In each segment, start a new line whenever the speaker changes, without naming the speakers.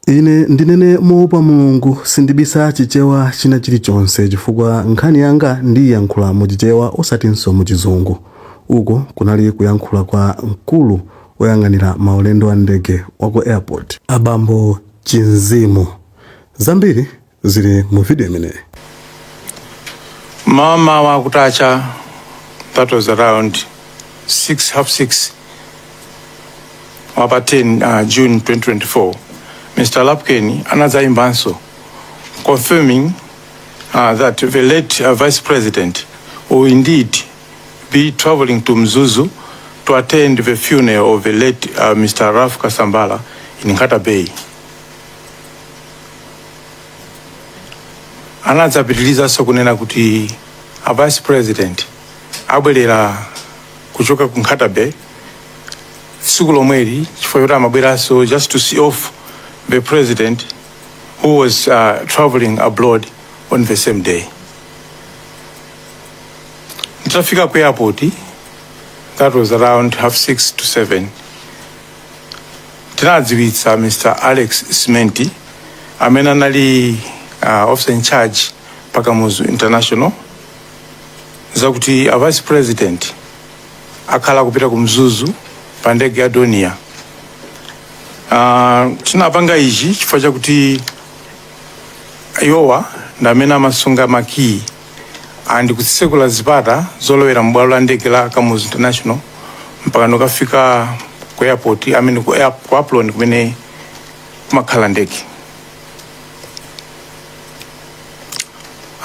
Ine ndinene moopa Mulungu sindibisa chichewa china chilichonse chifukwa nkhani yanga ndiiyankhula mu chichewa osatinso mu chizungu. Uko kunali kuyankhula kwa mkulu oyang'anira maulendo a ndege wa ku airport. Abambo Chimzimu, zambiri zili mu video imeneyi mmawa
mmawa kutacha that was around 6 half 6 wapa 10 uh, june 2024 mr lapken anadzayimbanso confirming uh, that the late uh, vice president will indeed be traveling to mzuzu to attend the funeral of the late uh, mr raf kasambala in nkata bay anadzapitirizanso kunena kuti a vice president abwerera kuchoka ku Nkhata Bay tsiku lomweli chifukwa choti amabweranso just to see off the president who was uh, traveling abroad on the same day nditafika ku airport that was around half six to seven Tinadziwitsa Mr. Alex Simenti amene anali uh, officer in charge pa Kamuzu International zakuti a vice president akhala kupita ku Mzuzu pa ndege ya Dornier. Uh, tinapanga ichi chifukwa chakuti iwowa ndi amene amasunga makiyi and kutsekula zipata zolowera m'bwalo la ndege la kamuzu international mpaka nokafika ku airport, I mean ku air, ku apron kumene kumakhala ndege,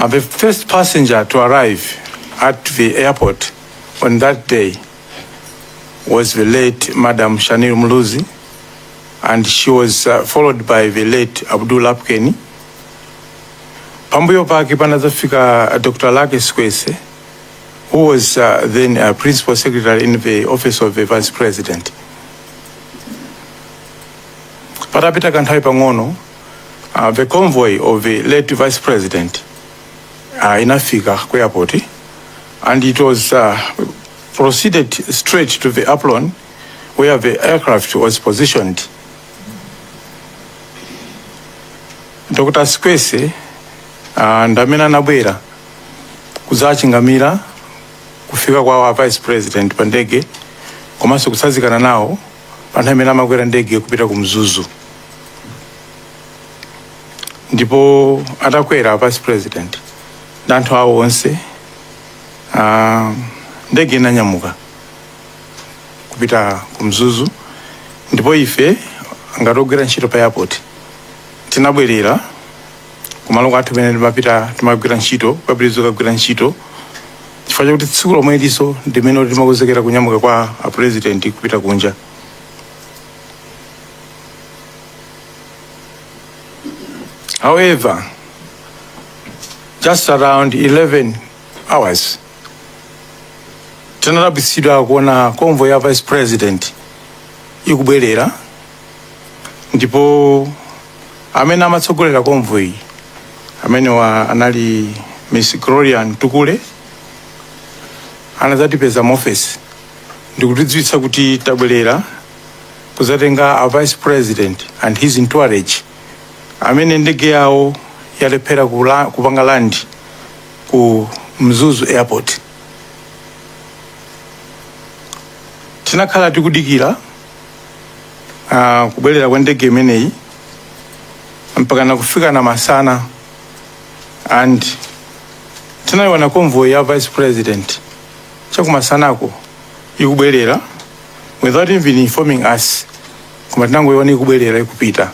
um, the first passenger to arrive at the airport on that day was the late Madam Shanil Muluzi, and she was uh, followed by the late Abdul Lapukeni, Pambuyo pake panadzafika Dr. Lucky Sikwese who was uh, then uh, principal secretary in the office of the vice president. Patapita kanthawi pang'ono uh, the convoy of the late vice president uh, inafika ku airport and it was uh, proceeded straight to the apron where the aircraft was positioned dr sikwese uh, ndi amene anabwera kudzachingamira kufika kwa a vice president pa ndege komanso kutsazikana nawo pa nthawi imene amakwera ndege kupita ku mzuzu ndipo atakwera vice president ndi anthu awo onse uh, ndege inanyamuka kupita ku mzuzu ndipo ife ngati ogwira ntchito pa airport tinabwerera kumalo kwathu pamene timapita timagwira ntchito kupitiriza kukagwira ntchito chifukwa chakuti tsiku lomweliso ndimene kuti timakonzekera kunyamuka kwa apurezidenti kupita kunja however just around 11 hours tinadabwitsidwa kuona convoy ya vice president ikubwerera ndipo amene amatsogolera convoy amenewa anali miss gloria mtukule anadzatipeza mu ofesi ndikutidziwitsa kuti tabwerera kuzatenga a vice president and his entourage amene ndege yawo yalephera kula- kupanga land ku Mzuzu Airport. Tinakhala tikudikira ah, kubwerera kwa ndege imeneyi mpaka nakufika na masana and tinayiona convoy ya vice president chakumasanako ikubwerera without even informing us koma tinangoyiona ikubwerera ikupita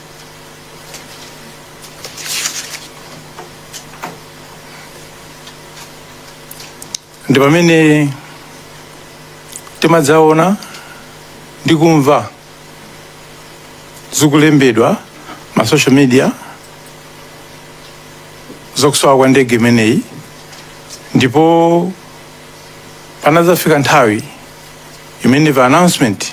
ndi pamene timadzaona ndi kumva zikulembedwa ma social media zokusowa kwa ndege imeneyi ndipo panadzafika nthawi imene pa announcement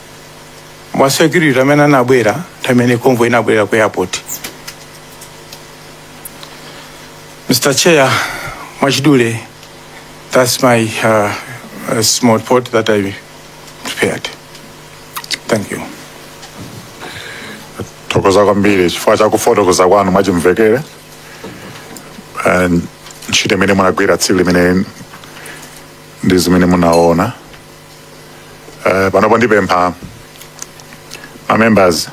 mwa security amene anabwera nthawi imene convoy inabwerera ku airport mr chair mwachidule that's my uh, uh, small report that i prepared thank
you thokoza kwambiri chifukwa cha kufotokoza kwanu mwachimvekere ntchito imene munagwira tsiku limene ndi zimene munaona Eh, panopo ndipempha ma members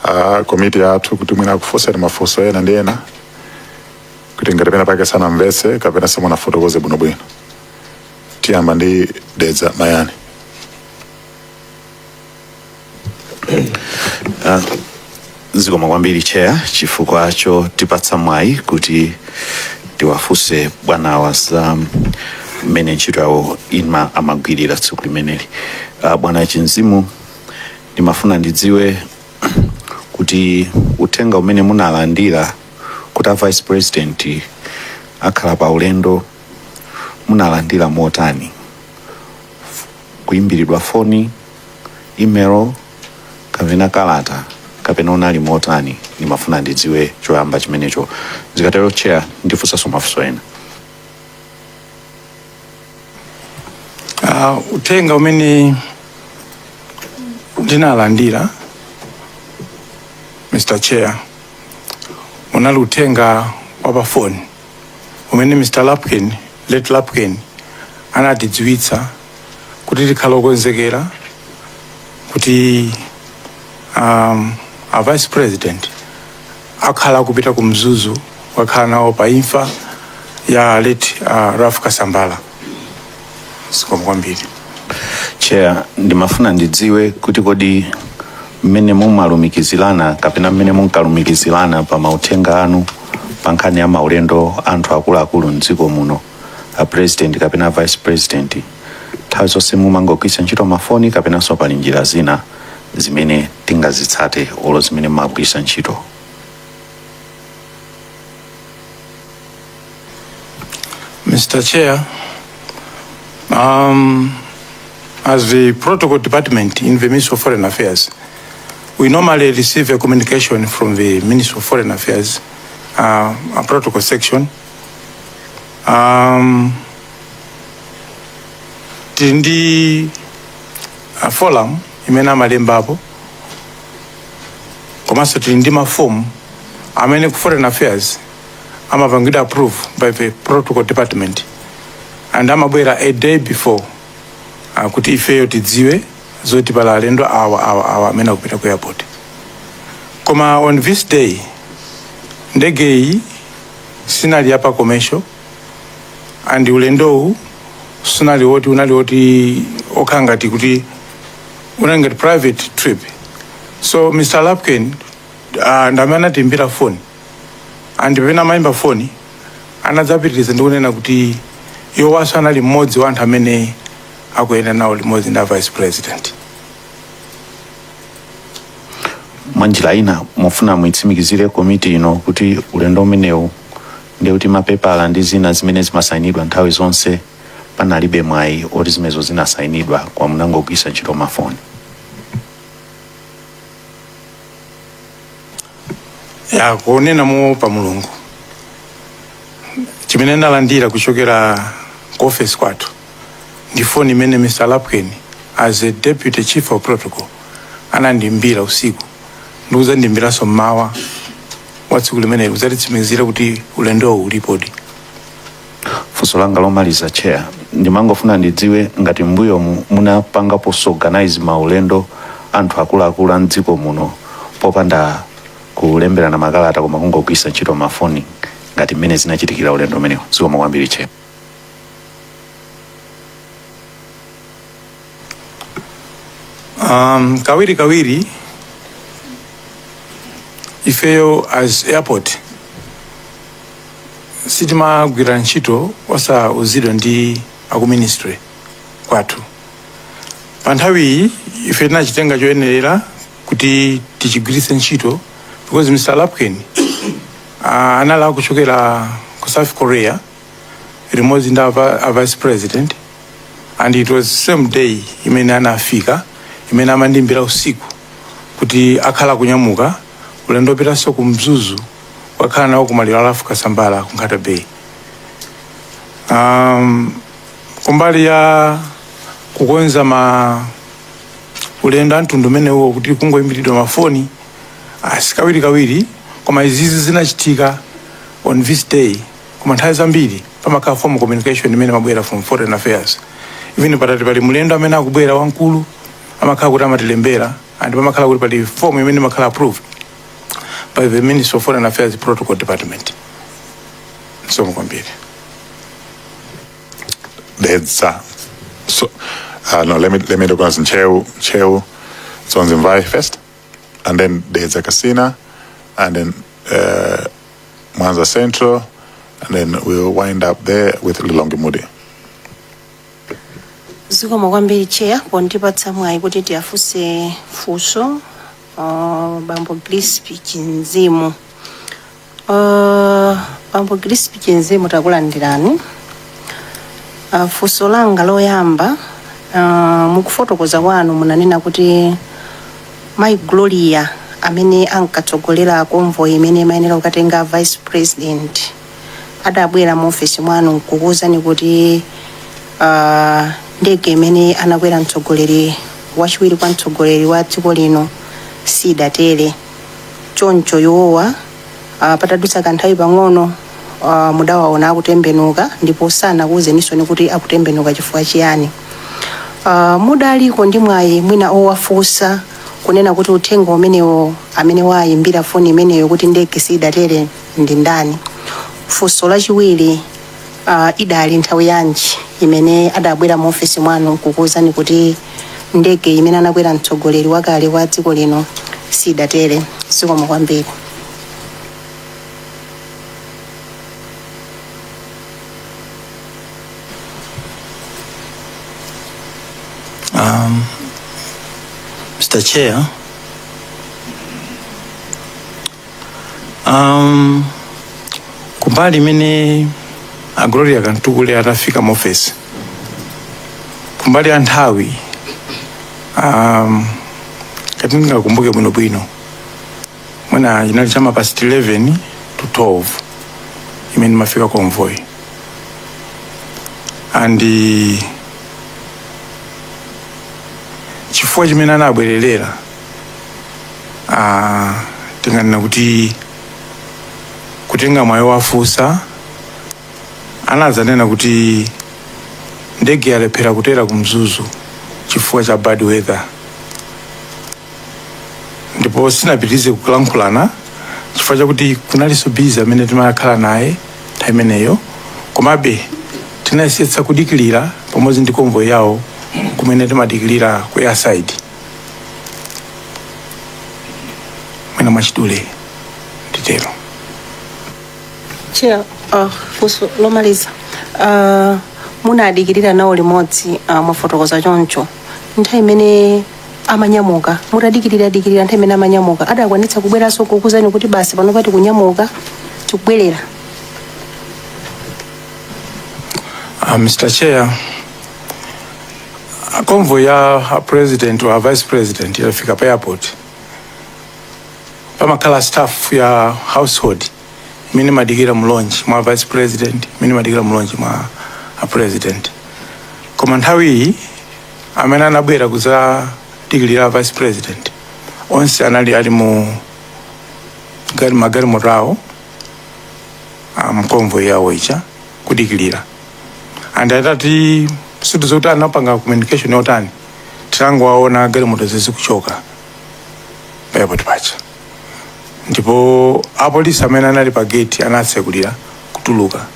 a komiti yathu kuti mwina akufunseni mafunso ena ndi ena kuti ngati pena pake sanamvetse kapena simunafotokoze bwinobwino tiyamba ndi dedza mayani
Ah, zikomo kwambiri chair chifukwa chotipatsa mwayi kuti tiwafunse bwanawa za mmene ntchito yawo ima amagwirira tsiku limeneli Ah, bwana chinzimu ndimafuna ndidziwe kuti uthenga umene munalandira kuti a vice president akhala pa ulendo munalandira motani kuimbiridwa foni, imelo, kapena kalata kapena unali motani ndimafuna ndidziwe choyamba chimenecho zikatero chair ndifunsanso mafunso ena
Ah, uthenga umene ndinalandira mr chair unali uthenga wa pa foni umene mr lapkin late lapkin anatidziwitsa kuti tikhale okonzekera kuti um, a vice president akhala akupita ku mzuzu kukakhala nawo pa imfa ya late uh, ralph kasambara zikomo kwambiri
chair ndimafuna ndidziwe kuti kodi mmene mumalumikizirana kapena mmene munkalumikizirana pa mauthenga anu pa nkhani ya maulendo anthu akuluakulu mdziko muno a president kapena vice president nthawi zonse mumangogwiritsa ntchito mafoni kapenanso pali njira zina zimene mungazitsate olo zimene mumagwiritsa ntchito
Mr. Chair, um, as the Protocol Department in the Ministry of Foreign Affairs, we normally receive a communication from the Ministry of Foreign Affairs, uh, a protocol section. Um, tili ndi forum imene amalembapo komanso tili ndi mafomu amene ku foreign affairs amapangidwa approve by the protocol department and amabwera a day before uh, kuti ifeyo tidziwe zoti pali alendo awa awa awa amene akupita ku airport koma on this day ndege iyi siinali ya pa commercial and ulendowu sunali woti unali woti okhala ngati kuti unali ngati private trip so mr lapkin uh, ndi amene anatiimbira phone and pamene amayimba foni anadzapitiriza ndi kunena kuti iwowanso anali mmodzi wa anthu amene akuyenda nawo limodzi ndi a vice president
mwa njira ina mufuna muitsimikizire komiti ino kuti ulendo umenewu ndi kuti mapepala ndi zina zimene zimasayinidwa nthawi zonse panalibe mwayi woti zimenezo zinasayinidwa koma munangogwiritsa ntchito mafoni
ya kunena moopa mulungu chimene ndinalandira kuchokera ku ofesi kwathu ndi foni imene mr lapkin as a deputy chief of protocol anandimbira usiku ndikuzandimbiranso mmawa wa tsiku limeneli kuzatitsimikizira kuti ulendowu ulipodi
funso langa lomaliza chair ndimangofuna ndidziwe ngati mmbuyomu munapangapo organize maulendo anthu akuluakulu a mdziko muno popanda kulemberana makalata koma kungogwiritsa ntchito mafoni ngati mmene zinachitikira ulendo umenewu zikomo kwambiri chair
um, kawiri kawiri ifeyo as airport sitimagwira ntchito osauzidwa ndi aku ministry kwathu pa nthawiyi ife tinachitenga choyenerera kuti tichigwiritse ntchito because mr lapkin uh, anali kuchokera ku south korea limodzi ndi apa- a vice president and it was same day imene anafika imene amandimbira usiku kuti akhala kunyamuka ulendo opitanso ku mzuzu wakhala nawo ku maliro a Ralph Kasambara ku nkhata bay um, kumbali ya kukonza maulendo amtundu umenewo kuti kungoyimbiridwa mafoni si kawirikawiri koma izizi zinachitika on this day koma nthawi zambiri pamakhala formal communication imene imabwera from foreign affairs even patati pali mlendo amene akubwera wamkulu amakhala kuti amatilembera and pamakhala kuti pali form imene imakhala approved by the ministry of foreign affairs protocol department zikomo kwambiri
Dedza. So, uh, no, let me let me look at Ntcheu, Ntcheu, Dzonzi Mvai first, and then Dedza Kasina, and then uh, Mwanza Central, and then we'll wind up there with Lilongwe
Mudi. zikomo kwambiri chair pondipatsa mwayi kuti ndiwafunse funso uh, bambo grispi chinzimu uh, bambo grispi chinzimu takulandirani uh, funso langa loyamba uh, mukufotokoza kwanu munanena kuti Mayi Gloria, amene ankatsogolera convoy imene imayenera kukatenga a Vice President, adabwera mu ofesi mwanu n'kukuuzani kuti ah, ndege imene anakwera mtsogoleri wachiwiri kwa mtsogoleri wa dziko lino sidatere. Choncho iwowa Uh, patadutsa kanthawi pang'ono uh, mudawaona akutembenuka ndipo sanakuwuzeninsoni kuti akutembenuka chifukwa chiyani uh, mudaliko ndi mwayi mwina owafunsa kunena kuti uthenga umenewo amene wayimbira foni imeneyo kuti ndege siidatere ndi ndani funso lachiwiri uh, idali nthawi yanji imene adabwera mu ofesi mwanu kukuwuzani kuti ndege imene anakwera mtsogoleri wakale wa dziko lino sidatere zikomo kwambiri
Um, Mr. Chair, um, kumbali imene a Gloria Kamtukule atafika mu ofesi kumbali ya nthawi um, ngati ndingakumbuke bwinobwino mwina inali cha ma past 11 to 12 imene imafika convoy and uh, chifukwa chimene anabwererera ah, tinganena kuti kutenga mwayi wafunsa anadzanena kuti ndege yalephera kutera ku mzuzu chifukwa cha bad weather ndipo sitinapitirize kulankhulana chifukwa chakuti kunalinso busy imene timakhala nayo nthawi imeneyo komabe tinayesetsa kudikirira pamodzi ndi convoy yawo kumene timadikirira ku airside mwina mwachidule
nditero Chair, uh, funso lomaliza uh, munadikirira nawo limodzi uh, mwafotokoza choncho nthawi imene amanyamuka mutadikirira dikirira nthawi imene amanyamuka adakwanitsa kubweranso kukuuzani kuti basi pano pa tikunyamuka tikubwerera
uh, mr chair convoy ya a president or vice president ikafika pa airport pamakhala staff ya household imene imadikira mulonji mwa vice president imene imadikira mulonji mwa a president koma nthawi iyi amene anabwera kuzadikirira vice president onse anali ali mu gari magalimoto awo a m'convoy yawo ija kudikilira and atati ndiye kuti zoti anapanga communication yotani tinangowaona galimoto zizikuchoka pa airport paja ndipo apolisi amene anali pa geti anatsekulira kutuluka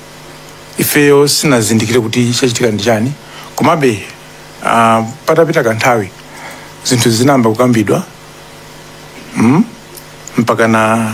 ifeyo sitinazindikire kuti chachitika ndi chani komabe uh, patapita kanthawi zinthu zinayamba kukambidwa mm? mpaka na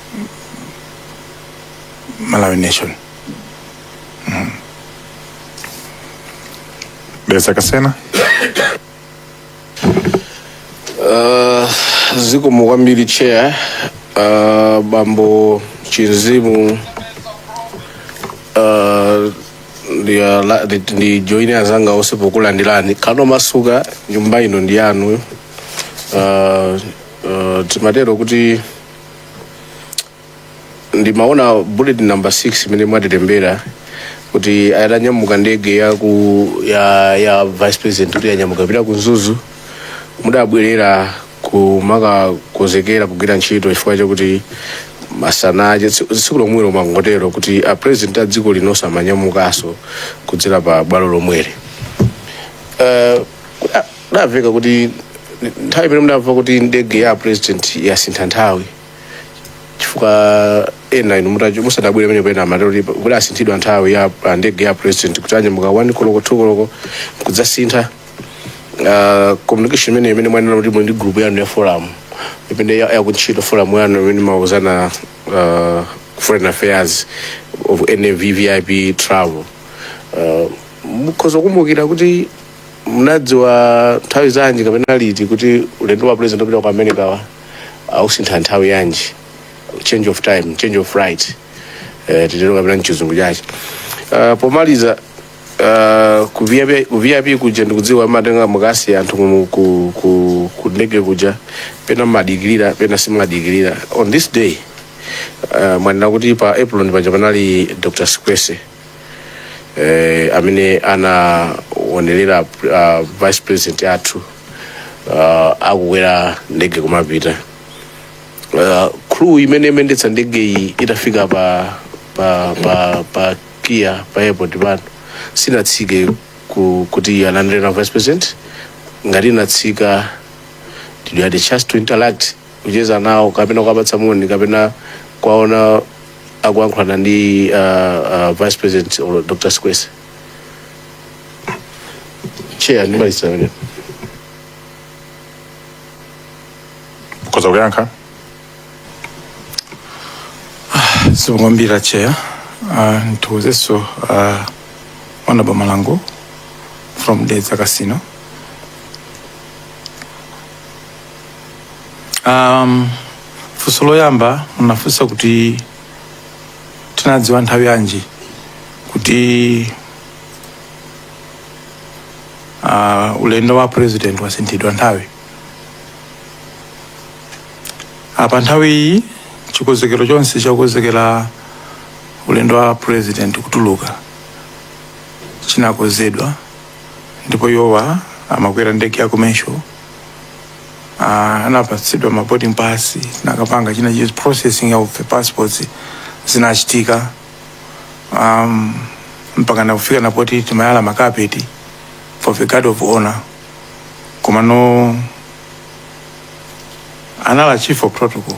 malawi
nation mm. beza kasena
Uh, zikomo kwambiri chair uh, bambo chinzimu uh, ndi ala- ndi- ndijoine azanga onse pokulandirani kano masukani nyumba ino ndi yanu uh, uh, timatero kuti ndimaona bullet number 6 imene mwatilembera kuti itanyamuka ndege ya ku ya, ya vice president kuti yanyamuka kupita ku mzuzu mudabwerera kumakakonzekera kugwira ntchito chifukwa chakuti masana aja tsi- tsiku lomwelo mwangotero kuti a president a dziko lino amanyamukanso kudzera pa bwalo lomweli Eh, zidaveka kuti nthawi imene mudamva kuti ndege ya president yasintha nthawi chifukwa ena inu musadabwere pamene pena amatero kuti asinthidwa nthawi ya ah, ndege ya president kuti anyamuka 1 koloko 2 koloko kudzasintha Ah, communication imene imene mwanena kuti muli ndi group yanu ya forum imene ya- yakuntchito forum yanu imene mauzana ah, foreign affairs of VVIP travel Ah, mukhoza kukumbukira kuti munadziwa nthawi zanji kapena liti kuti ulendo wa president wopita ku america ausintha nthawi yanji change of time change of flight eh, titero kapena mchizungu chache uh, pomaliza uh, ku VIP ku VIP kuja ndikudziwa mumatenga mukasiya anthu mu- ku, ku, ku ndege kuja pena mumadikirira pena simumadikirira on this day uh, mwanena kuti pa apron paja panali dr sikwese eh, amene anaonelera uh, vice president athu uh, akukwera ndege kumapita uh, crew imene imayendetsa ndege iyi itafika pa pa pa pa kia pa airport pano sinatsike ku, kuti alandire vice president ngati inatsika did you had a chance to interact kucheza nawo kapena kuwapatsa moni kapena kuwaona akuyankhulana ndi uh, uh, vice president or dr sikwese chair ndimaliza pamenepo
mukhoza
kuyankha zikomo kwambiri chair uh, ndithokozenso uh, honourable malango from dedza kasina Um, funso loyamba munafunsa kuti tinadziwa nthawi yanji kuti uh, ulendo wa president wasinthidwa nthawi apa nthawi iyi chikonzekero chonse chakukonzekera ulendo wa president kutuluka chinakonzedwa ndipo iwowa amakwera ndege ya commercial Ah, anapatsidwa ma boarding pass tinakapanga china chilichonse processing of the passports zinachitika um, mpaka nakufika napoti timayala makapeti for the guard of honor komano anali chief of protocol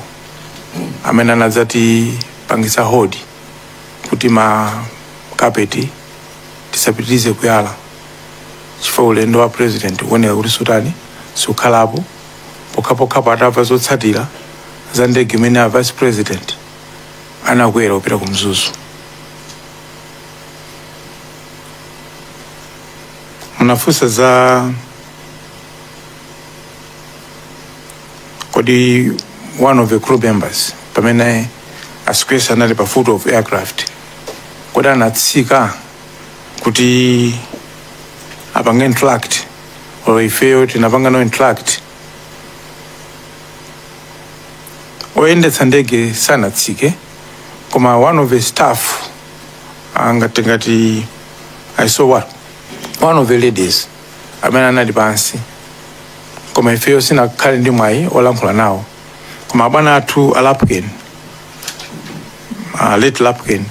amene anadzatipangisa hodi kuti ma kapeti tisapitirize kuyala chifukwa ulendo wa president ukuoneka kuti siutani siukhalapo pokhapokhapo atamva zotsatira za ndege imene a vice president anakwera kupita ku mzuzu munafunsa za kodi one of the crew members pamene a Sikwese anali pa foot of aircraft kodi anatsika kuti apange interact or ifeyo tinapanga nawo interact oyendetsa ndege sanatsike koma one of the staff ngati ngati i saw one, one of the ladies amene anali pansi koma ifeyo sitinakhale ndi mwayi olankhula nawo koma abwana athu a lapken uh, late lapken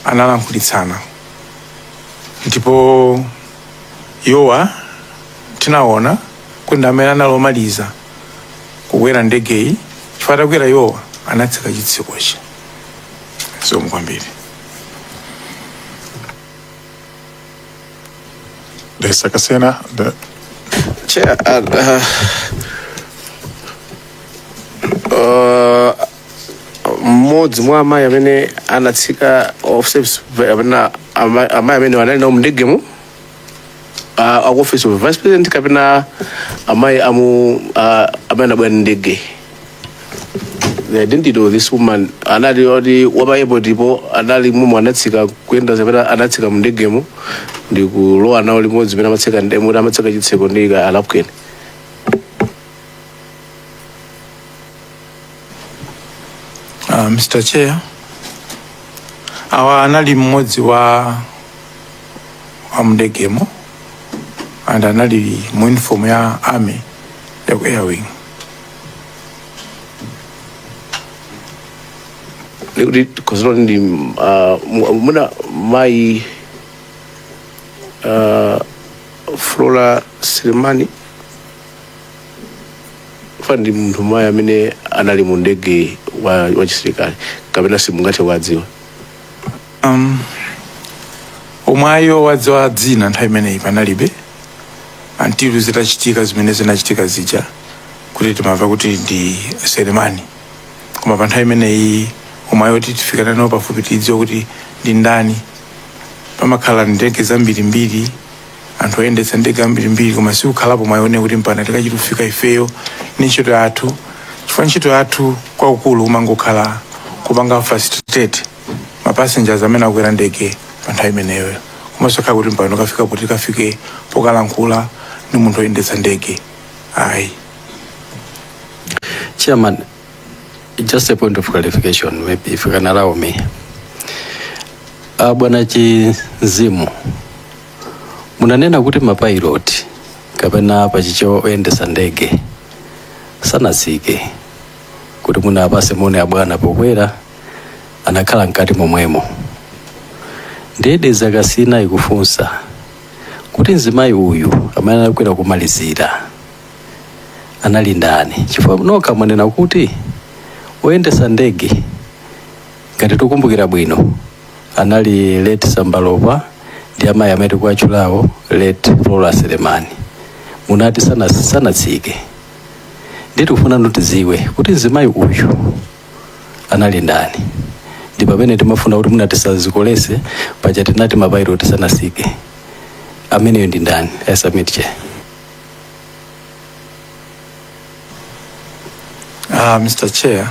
analankhulitsana ndipo iwowa tinaona kuti ndi amene anali omaliza kukwera ndegeyi chifukwa atakwera iwowa anatseka chitsekochi zikomo kwambiri
They suck us in out.
Chair... Yeah, and, uh, uh, mmodzi mwa amayi amene anatsika of service kapena ama- amayi amene anali nawo mndegemo uh, aku office of vice president kapena amayi amu uh, amene anabwera ndi ndege the identity of this woman anali oti wapa airport po anali mumu anatsika kuyenda zapita anatsika mndegemo ndi kulowa nawo limodzi pena amatsika ndemo kuti amatseka chitseko ndi a
lapkeni Uh, Mr. Chair, awa anali mmodzi wa wa mndegemo and anali mu uniform ya army ya ku airwing
kuti khosolo ndi ah, mu- muna mayi ah, flora selemani ofanana ndi munthu mmayi amene anali mu ndege wa, wa chisilikali kapena simungathe kuwadziwa
um, mwayi owadziwa dzina nthawi imeneyi panalibe until zitachitika zimene zinachitika zija kuti timamva kuti ndi selemani koma pa nthawi imeneyi mwayi woti tifikana nawo pafupi tidziwe kuti ndi ndani pamakhala ndege zambirimbiri anthu oyendetsa ndege ambirimbiri koma siukhalapo mwayi wonena kuti mpaka tikachita kufika ifeyo ni ntchito yathu chifukwa ntchito yathu kwakukulu imangokhala kupanga facilitate ma passengers amene akwera ndege pa nthawi imeneyo komanso khala kuti mpano kafika kuti kafike pokalankhula ndi munthu oyendetsa ndege ayi
Chairman, just a point of clarification, maybe if you can allow me. Uh, Bwana Chimzimu, munanena kuti mapilot kapena pa Chichewa oyendesa ndege sanasike kuti mwina awapase moni abwana pokwera anakhala mkati momwemo ndiye Dedza Kasina ikufunsa kuti mzimayi uyu amene anakwera kumalizira anali ndani chifukwa nokha mwanena kuti oyendesa ndege ngati tikumbukira bwino anali late Sambalopa ndi amayi amene tikuwatchulawo late Flora Selemani munati sana- sanatsike nde tikufuna nutiziwe kuti mzimayi uyu anali ndani ndi pamene timafuna kuti mwina tisazikolese paja tinati mapilot sanasike ameneyo ndi ndani i submit chair
Uh, Mr. Chair,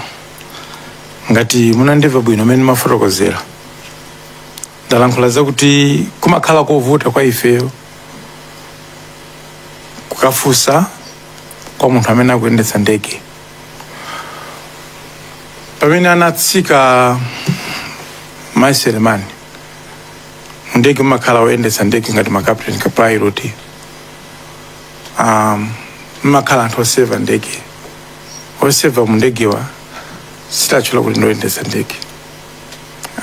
ngati munandimva bwino mmene ndimafotokozera ndalankhula zakuti kumakhala kovuta kwa ifeyo kukafunsa kwa munthu amene akuyendetsa ndege pamene anatsika mai Selemani mndege mmakhala oyendetsa ndege ngati ma captain co-pilot um, mmakhala anthu oseva ndege oseva mu ndegewa sitiwatchula kuti ndoyendetsa ndege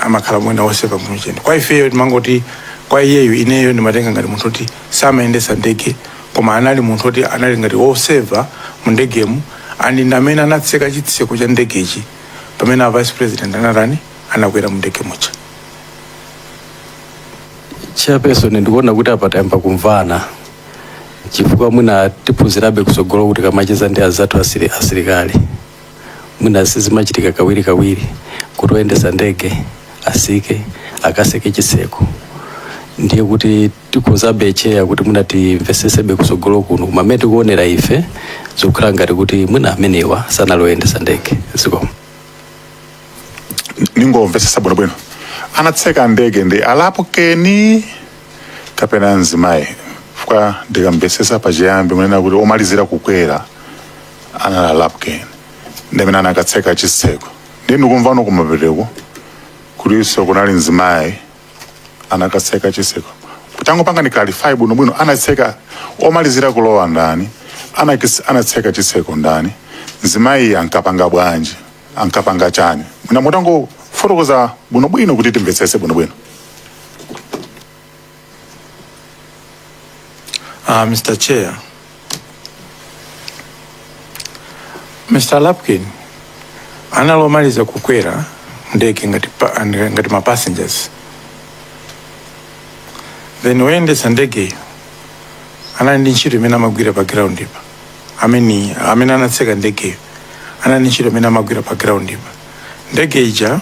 amakhala mwina oseva mu chani kwa ifeyo timangoti kwa iyeyo ineyo ndimatenga ngati munthu oti samayendesa ndege koma anali munthu oti anali ngati woseva mu ndegemu and ndi amene anatseka chitseko cha ndegechi pamene a vice president anatani anakwera mu ndege
muja chairperson ndikuona kuti apa tayamba kumvana chifukwa mwina tiphunzirabe kusogoloku tikamacheza ndi azathu asili- asilikali mwina sizimachitika kawiri kawiri kuti oyendesa ndege asike akaseke chitseko ndiye kuti tikhozabe Chair kuti mwina timvesesebe kusogolo kuno koma mmene tikuonera ife zikukhala ngati kuti mwina amenewa sanali oyendesa ndege
zikomo ndingomvesesa bwinobwino anatseka ndege ndi a Lapukeni kapena mzimayi chifukwa ndikamvesesa pachiyambi munanena kuti omalizira kukwera anali a Lapkin ndi amene anakatseka chitseko ndiye ndikumvano kumapetoku kulinso kunali mzimayi anakatseka chitseko tangopangani clarify bwino bwino anatseka omalizira kulowa ndani Anakis- anatseka chitseko ndani mzimayi ankapanga bwanji ankapanga chani mwina mutangofotokoza bwino bwino kuti timvetsese bwino bwino
Uh, Mr. Chair. Mr. Lapkin analomaliza kukwera ndege ngati, pa- ngati ma passengers then woyendetsa ndegeyo anali ndi ntchito imene amagwira pa groundipa amene amene anatseka ndegeyo anali ndi ntchito imene amagwira pa groundipa ndege ija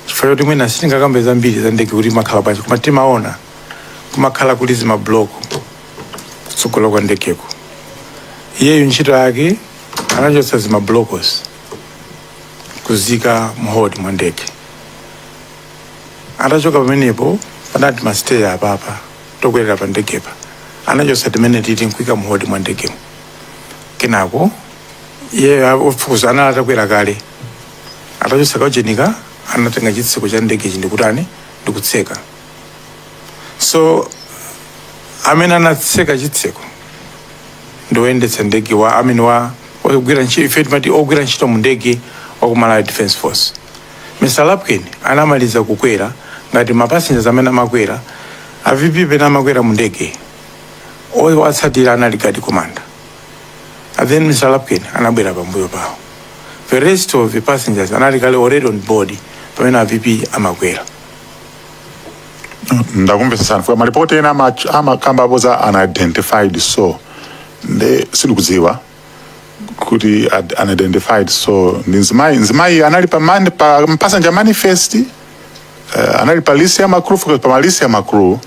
chifukwa choti mwina sitingakambe zambiri za ndege kuti imakhala bwanji koma timaona kumakhala kuli zimabuloko kutsogolo kwa ndegeko iyeyo ntchito yake anachotsa zimabulokozo nkuziika mu hold mwa ndege atachoka pamenepo panali timasiteya apapa tokwerera pa ndegepa anachotsa timeneti nkuika mu hold mwa ndegemo kenako iyeyo ofukuzayo anali atakwera kale Atachotsa kaujenika anatenga chitseko cha ndegechi ndikutani ndikutseka so amene anatseka chitseko ndi woyendetsa ndege wa amene wa ogwira ntchito ife timati ogwira ntchito mu ndege wa ku Malawi Defence Force Mr. Lapkin anamaliza kukwera ngati mapasinja amene amakwera a VP pamene amakwera mu ndege owatsatira anali gadi komanda And then Mr. Lapkin anabwera pambuyo pawo. The rest of the passengers anali kale already on board pamene a VP amakwera.
ndakumvetsetsani chifukwa malipoti ena ama- amakambapo za unidentified so nde sindikudziwa kuti ad- unidentified so ndi mzimayi mzimayi anali pa, man, pa passenger manifest Eh, anali pa list ya ma crew chifukwa pa malist ya ma crew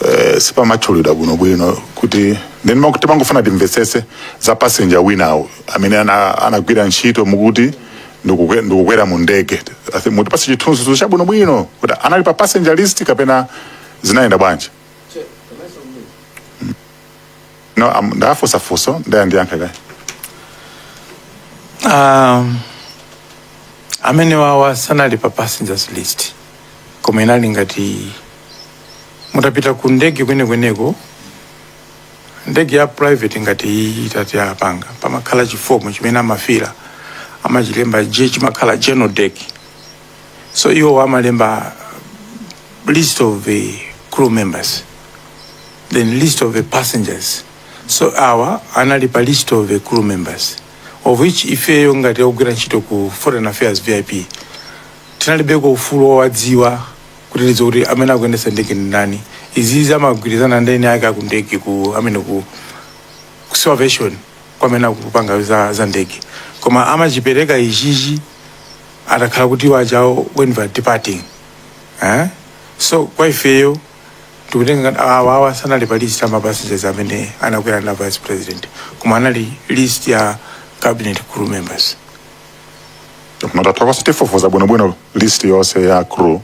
eh, sipanatchulidwe bwinobwino kuti ndani ndiye mwa kuti timangofuna timvetsese za passenger winawo amene ana- anagwira ntchito mukuti ndikukwe- ndikukwera mu ndege I think mutipatse chithunzithunzi chabwinobwino kuti anali pa passenger list kapena zinayenda bwanji no am- ndafunsa funso ndaya ndiyankhe kaye
Um, amenewawa sanali pa passengers list koma inali ngati mutapita ku ndege kwenekweneko ndege ya private ngati iyi itati apanga pamakhala chifomu chimene amafira amachilemba je chimakhala general dec so iwo amalemba list of the crew members then list of the passengers so awa anali pa list of the crew members of which ifeyo ngati ogwira ntchito ku foreign affairs vip tinalibeko ufulu wowadziwa kuti tidziwe kuti amene akuyendetsa ndege ndi ndani izizi amagwirizana ndi eni ake akundegeko amene ku ku civil aviation kwamene akupanga za, za ndege koma amachipereka ichichi atakhala kuti kwachako when we are departing eh? so kwa ifeyo tikutenga ngati awa awa sanali pa list ya mapassengers amene anakwera na vice president koma anali list ya cabin crew members koma
tathokoza tifufuza bwinobwino list yonse ya crew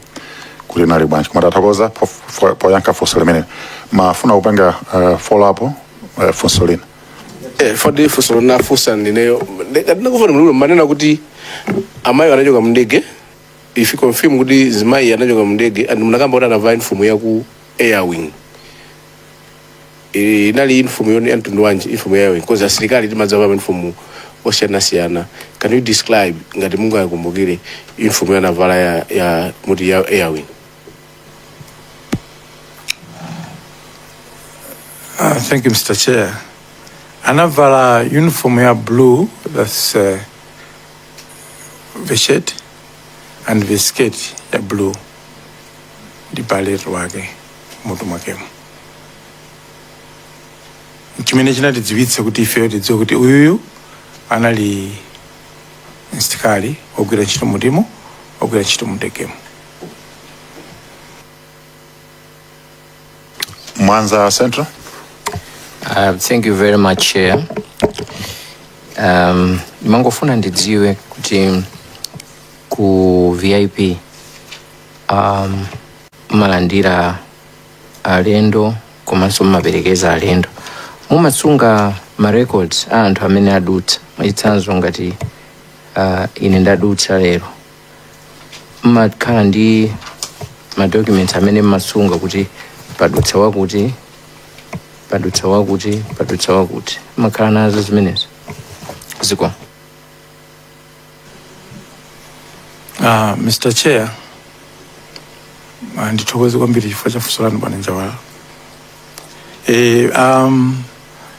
kuti inali bwanji koma tathokoza po- po- poyankha funso limene mumafuna kupanga uh, follow up uh, funso lina Eh,
fadi funso ndinafunsa ndineyo ndinakufuna muluwu mumanena kuti amayi anachoka mndege if you confirm kuti zimayi anachoka mndege and munakamba kuti anavala uniform ya ku airwing Eh, inali uniform yonga ya mtundu wanji uniform ya airwing because asilikali timavala uniform osiyanasiyana can you describe ngati mungakumbukire uniform yaanavala ya, ya mukuti ya airwing
Uh, thank you, Mr. Chair. Anavala uniform ya blue, that's uh, the shirt and the skirt ya blue. Ndi beret wake mutu mwakemo. Chimene chinatidziwitsa kuti ifeyo tidziwe kuti uyuyu anali msilikali ogwira ntchito mutimo ogwira ntchito mundegemo.
Mwanza
Central. Uh, thank you very much chair um, ndimangofuna ndidziwe kuti ku vip um, mumalandira alendo komanso mumaperekeza alendo mumasunga ma records a anthu amene adutsa mwachitsanzo ngati uh, ine ndadutsa lero mmakhala ndi madocuments amene mmasunga kuti padutsa wakuti padutsa wakuti padutsa wakuti mmakhala nazo zimenezo ziko Uh,
Mr. Chair, uh, ndithokoze kwambiri chifukwa cha funso lanu bwana Njawala. Eh, um,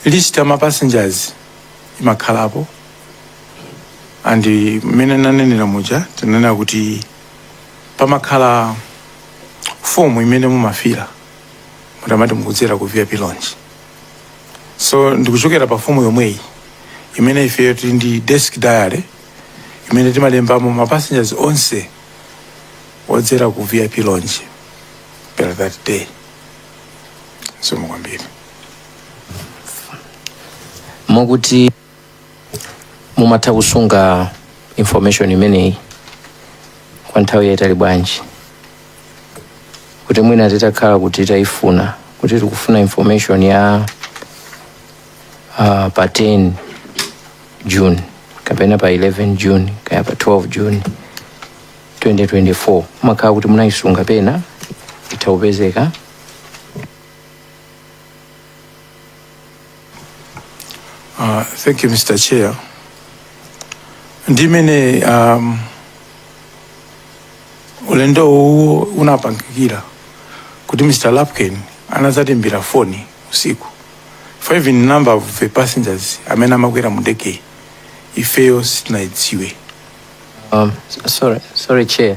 list ya ma passengers imakhalapo and mmene nanenera muja tinanena kuti pamakhala fomu imene mumafilla mutamati mukudzera ku vip lounge so ndikuchokera pa fomu yomweyi imene ifeyo tili ndi desk diary imene timalembamo ma passengers onse odzera ku vip lounge per that day so mokwambiri
mukuti mumatha kusunga information imeneyi kwa nthawi yaitali bwanji kuti mwina titakhala kuti tayifuna kuti tikufuna information ya uh, pa 10 june kapena pa 11 june kaya pa 12 june 2024 mumakhala kuti munayisunga pena itha kupezeka
Uh, thank you, Mr. Chair. Ndi mmene um, ulendo uwu unapangikira kuti Mr. Lapkin anadzatiimbira foni usiku ife even number of the passengers amene amakwera mu ndege ifeyo sitinayidziwe Um, s- sorry,
sorry chair.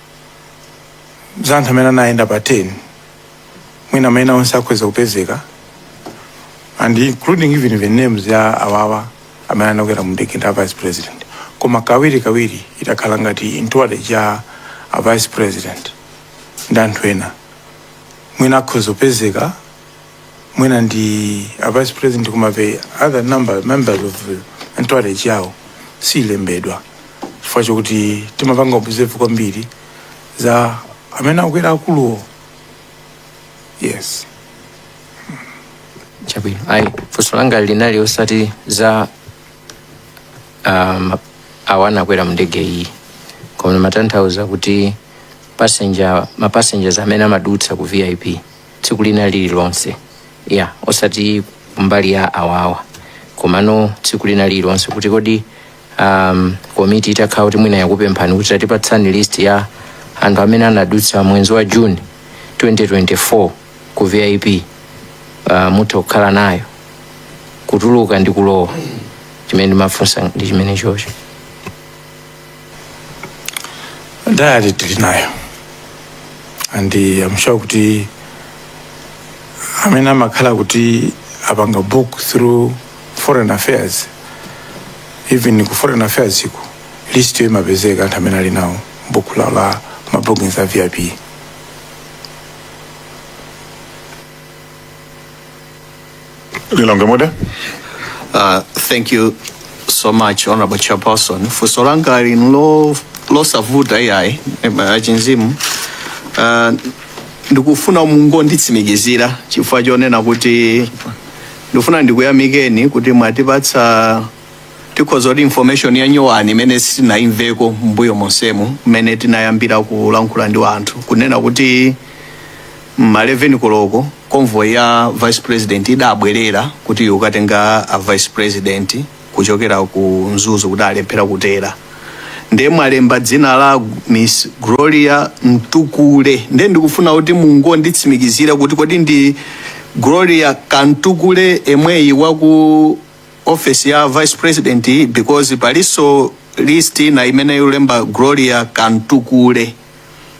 za anthu amene anayenda pa 10 mwina maina onse akhoza kupezeka and including even the names ya awawa amene anakwera mu ndege ndi a vice president koma kawiri kawiri itakhala ngati entourage ya a vice president ndi anthu ena mwina akhoza kupezeka mwina ndi a vice president koma the other number members of entourage yawo siyilembedwa chifukwa chokuti timapanga observe kwambiri za amene akwera akuluwo yes
chabwino ayi funso langa linali osati za um, awo anakwera mndege iyi koma ndimatanthauza kuti passenger ma passengers amene amadutsa ku vip tsiku lina lililonse ya osati kumbali ya awawa komano tsiku lina lililonse kuti kodi um, komiti itakhala kuti mwina yakupemphani kuti tatipatsani list ya anthu amene anadutsa mwezi wa june 2024 ku vip uh, mutha kukhala nayo kutuluka ndi kulowa chimene ndimafunsa ndi chimenechocho
diary tili nayo and uh, I'm sure kuti amene amakhala kuti apanga book through foreign affairs even ku foreign affairs iko listyo imapezeka anthu amene ali nawo buku lawo la mabookings a vip
Lilongwe mudzi Uh,
thank you so much honorable chairperson funso langa lino lo- losavuta iyayi achinzimu uh, ndikufuna mungonditsimikizira chifukwa chonena kuti ndikufuna ndikuyamikeni kuti mwatipatsa tikhoza kuti information ya nyowani imene sitinayimveko mbuyo monsemu mmene tinayambira kulankhula ndi anthu kunena kuti M'ma 11 koloko convoy ya vice president idabwelera kuti ikatenge a vice president kuchokera ku Mzuzu kuti alephera kutera nde mwalemba dzina la Miss Gloria Mtukule nde ndikufuna kuti mungonditsimikizira kuti kodi ndi Gloria Kamtukule yemweyu waku office ya vice president? because palinso list ina imene yalemba Gloria Kamtukule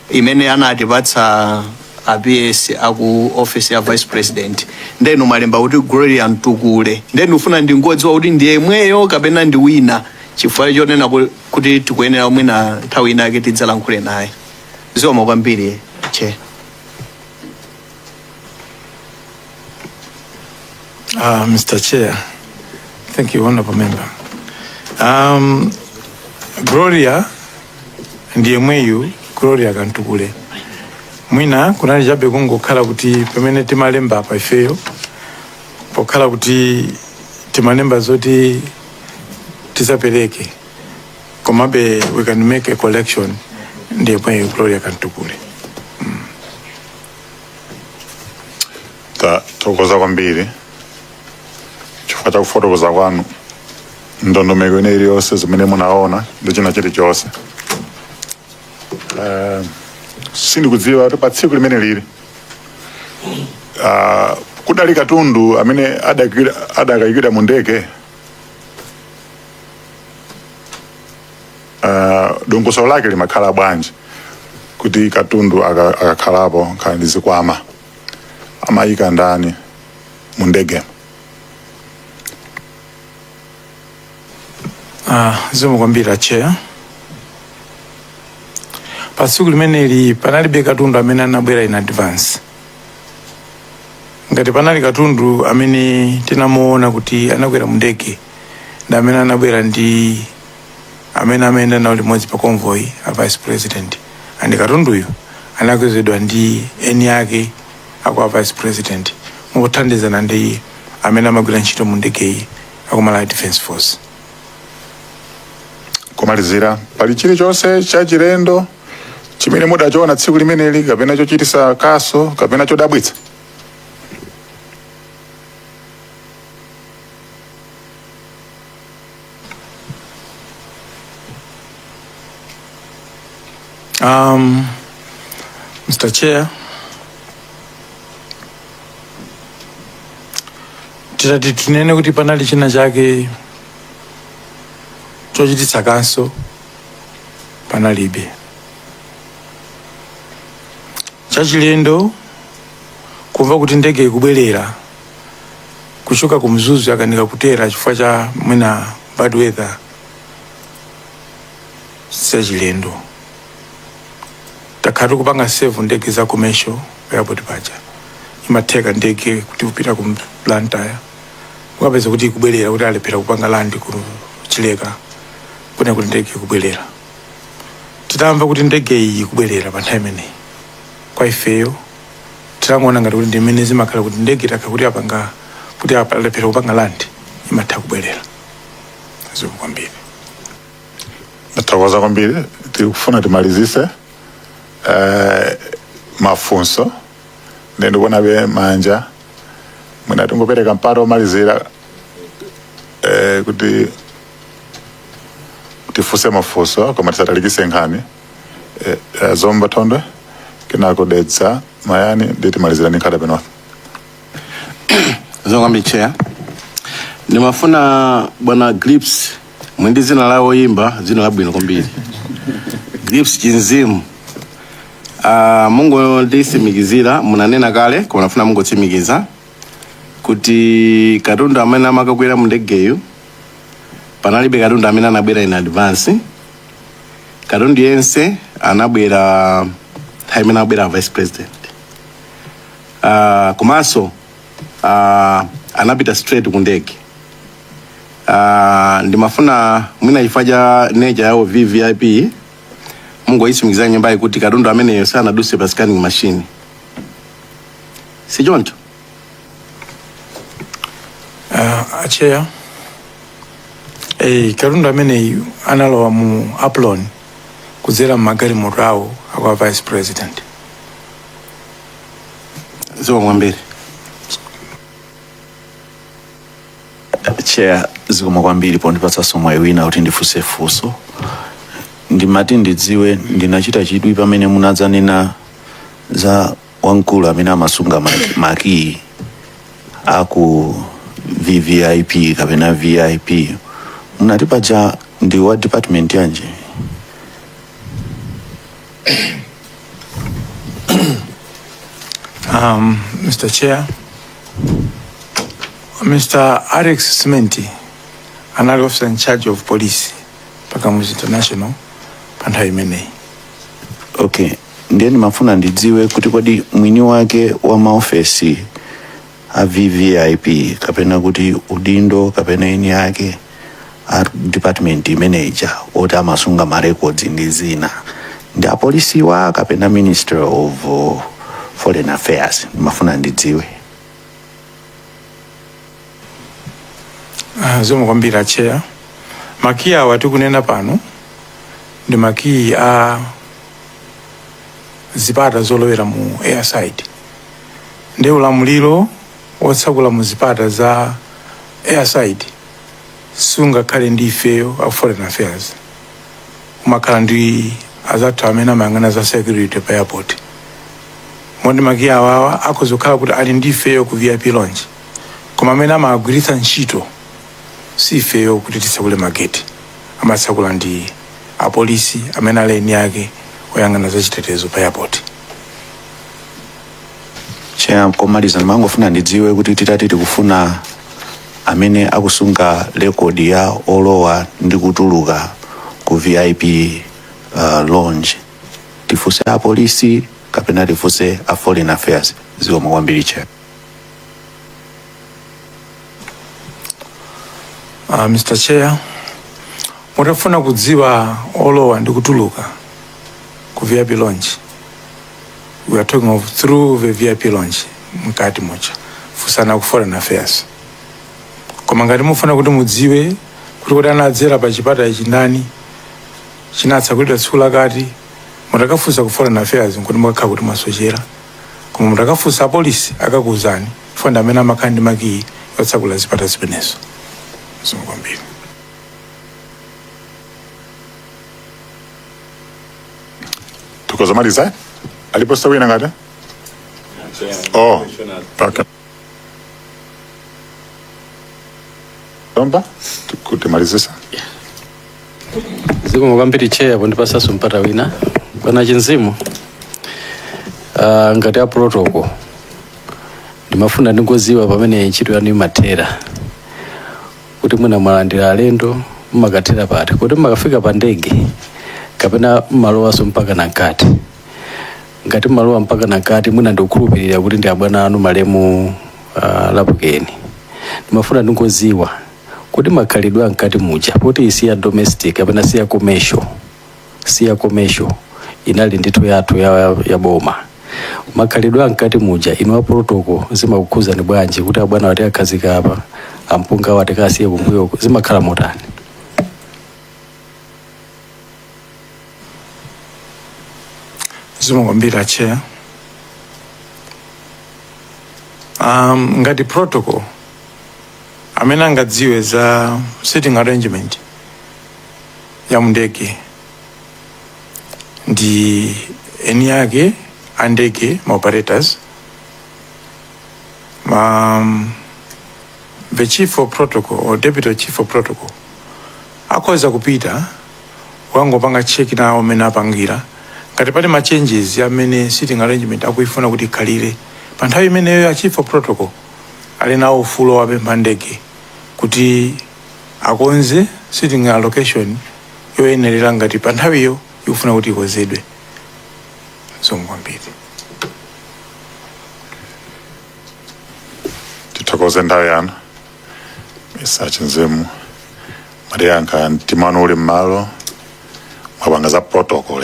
imene anatipatsa a PS aku office ya vice president nde inu mwalemba kuti Gloria Mtukule nde ndikufuna ndingodziwa kuti ndi yemweyo kapena ndi wina chifukwa chonena ku- kuti tikuyenera mwina nthawi ina yake tidzalankhule naye zikomo kwambiri Chair
Uh, Mr. Chair, thank you, Honorable Member. Um, Gloria ndi yemweyu Gloria Kamtukule. Mwina kunali chabe kungokhala kuti pamene timalemba apa ifeyo pokhala kuti timalemba zoti tizapereke komabe we can make a correction ndi yemweyu Gloria Kamtukule.
tathokoza kwambiri chifukwa cha kufotokoza kwanu ndondomeko ine iliyonse zimene munaona ndi china chilichonse Eh, sindikudziwa kuti pa tsiku limeneli ah, kudali katundu amene adakaikidwa mu ndege uh, dongosolo lake limakhala bwanji kuti katundu aka- akakhalapo akakhala ndi zikwama amaika ndani mu ndege Ah,
zikomo kwambiri a Chair pa tsiku limeneli panalibe katundu amene anabwera in advance ngati panali katundu amene tinamuona kuti anakwera mu ndege ndi amene anabwera ndi amene amayenda nawo limodzi pa convoy a vice president and katunduyu anakwezedwa ndi eni ake akwa vice president mothandizana ndi amene amagwira ntchito mu ndegeyi akumalawi defense force
pomalizira pali chilichonse chachilendo chimene mudachiona tsiku limeneli kapena chochititsa kaso kapena chodabwitsa
Um, Mr. Chair, titati tinene kuti panali china chake chochititsa kaso panalibe chachilendo kumva kuti ndege ikubwerera kuchoka ku mzuzu yakanika kutera chifukwa cha mwina bad weather sichachilendo takhala tikupanga save ndege za commercial airport paja imatheka ndege kuti kupita ku blantyre ukapeza kuti ikubwerera kuti alephera kupanga land ku chileka kuno kuti ndege ikubwerera titamva kuti ndege iyi ikubwerera pa nthawi imeneyi kwa ifeyo tinangoona ngati kuti ndi mmene zimakhala kuti ndege ikakhala kuti apanga kuti alephera kupanga land imatha kubwerera zikomo kwambiri
Ndathokoza kwambiri tikufuna timalizitse eh, mafunso nde ndikuonabe manja mwina tingopereka mpata womalizira eh, kuti tifunse mafunso koma tisatalikitse nkhani eh, eh, zomba thondwe kenako dedza mayani nde timalizira ndi nkhata bay
north zikomo kwambiri chair ndimafuna bwana grips muli ndi dzina la oyimba dzina labwino kwambiri grips chinzimu uh, mungonditsimikizira munanena kale koma nafuna mungotsimikiza kuti katundu amene amakakwera mu ndegeyu panalibe katundu amene anabwera in advance katundu yense anabwera nthawi imene anabwera vice president uh, komanso uh, anapita straight ku ndege uh, ndimafuna mwina chifukwa cha nature yawo vvip mungoyitsimikizira nyumbayi kuti katundu ameneyo sanaduse pa scanning machine sichoncho
Uh, acheya eh, katundu ameneyu analowa mu apron kudzera mmagalimoto awo akwa vice president
zikomo
kwambiri chair zikomo kwambiri pondipatsanso mwayi wina kuti ndifunse funso ndimati ndidziwe ndinachita chidwi pamene munadzanena za wamkulu amene amasunga ma- makiyi aku vvip kapena vip munati paja ndi wa department yanji Um,
Mr. Chair, Mr. Alex Simenti, anali officer in charge of police pa Kamuzu International pa nthawi imeneyi. okay
ndiye ndimafuna ndidziwe kuti kodi mwini wake wa maofesi a vvip kapena kuti udindo kapena eni ake a department imeneja oti amasunga marekodzi ndi zina ndi apolisiwa kapena ministry of uh, foreign affairs ndimafuna ndidziwe
Ah, zikomo kwambiri atcheya makiyi awa tikunena pano ndi makiyi a zipata zolowera mu airside ndi ulamuliro wotsakula mu zipata za airside sungakhale ndi ifeyo a foreign affairs umakhala ndi azathu amene amayang'ana za security pa airport moti makiyi awawa akhoza kukhala kuti ali ndi ifeyo ku vip lounge koma amene amagwiritsa ntchito si ifeyo kuti titsakule mageti amatsakula ndi apolisi amene ali eni ake oyang'ana za chitetezo pa airport
cheya komaliza ndimangofuna ndidziwe kuti titati tikufuna amene akusunga rekodi ya olowa ndi kutuluka ku vip uh, lounge tifunse apolisi kapena tifunse a foreign affairs zikomo kwambiri cheya
Uh, Mr. Chair, mutafuna kudziwa olowa ndi kutuluka ku VIP lounge. We are talking of through the VIP lounge mkatimo chair. Funsani ku foreign affairs. Koma ngati mufuna kuti mudziwe kuti kuti anadzera pa chipata ichi ndani chinatsakulidwa tsiku lakati mutakafunsa ku foreign affairs nkuti mwakhala kuti mwasochera. koma mutakafunsa apolisi akakuuzani chifukwa ndi amene amakhala ndi makiyi otsakula zipata zimenezo zikomo kwambiri
tikhoza kumaliza alipo wina ngati oh okay. Lomba
tikumalizitsa zikomo kwambiri chair pondipasaso mpata wina bwana Chinzimu uh, ngati a protocol ndimafuna ndingoziwa pamene ntchito yanu imathera kuti mwina mwalandira alendo mmakathera pati kodi mmakafika pa ndege kapena mmalowaso mpaka na mkati ngati mmalowa mpaka na mkati mwina ndikukhulupirira kuti ndi abwana anu malemu uh, lapukeni ndimafuna ndingoziwa kodi makhalidwe a mkati muja poti si ya domestic kapena si ya commercial si ya commercial inali ndithu yathu ya, ya boma makhalidwe a mkati muja inu a protocol zimakukhuzani bwanji kuti abwana woti akhazika apa ampunga woti kasiye kumbuyo zimakhala motani
zikomo kwambiri chair um, ngati protocol amene angadziwe za sitting arrangement ya mundege ndi eni yake a ndege ma operators um, the chief of protocol or deputy chief of protocol Akhoza kupita kukangopanga check nawo mmene apangira ngati pali ma changes amene sitting arrangement akuifuna kuti ikhalire. Pa nthawi imeneyo a chief of protocol ali nawo ufulu owapempha a ndege kuti akonze sitting allocation yoyenerera ngati pa nthawiyo ikufuna kuti ikonzedwe. Zikomo kwambiri.
tithokoze nthawi yanu Mr. Chinzimu mwatiyankha mtima wanu uli mmalo mwapanga za protocol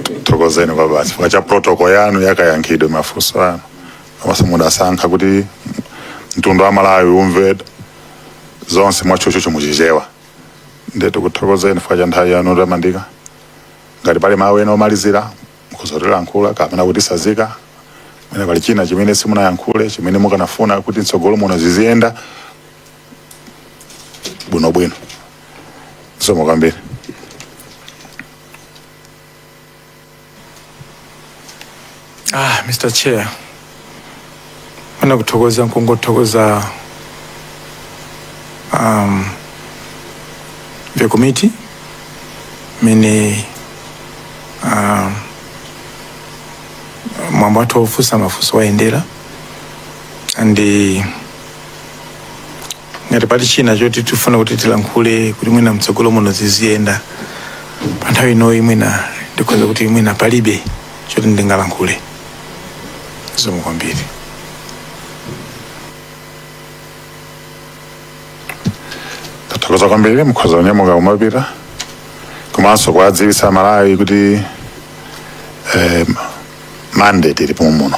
tikuthokozeni kwabasi chifukwa cha protocol yanu yakayankhidwe mafunso anu komanso mudasankha kuti mtundu wa malawi umve zonse mwachochocho muchichewa ndiye tikuthokozeni chifukwa cha nthawi yanu tamandika ngati pali mawu ena omalizira mukhoza kutilankhula kapena kutisazika mwina pali china chimene simunayankhule chimene mukanafuna kuti mtsogolo muno ziziyenda bwinobwino zikomo kwambiri
Ah, Mr. Chair, Mwina kuthokoza nkungothokoza um, the committee mmene um, mwambo wathu wofunsa mafunso wayendera and eh, ngati pali china choti tifuna kuti tilankhule kuti mwina mtsogolo muno ziziyenda pa nthawi inoyi mwina ndikhoza kuti mwina palibe choti ndingalankhule zikomo
kwambiri tathokoza kwambiri mukhoza kunyamuka kumapita komanso kuwadziwitsa amalawi kuti eh, mandate ilipo muno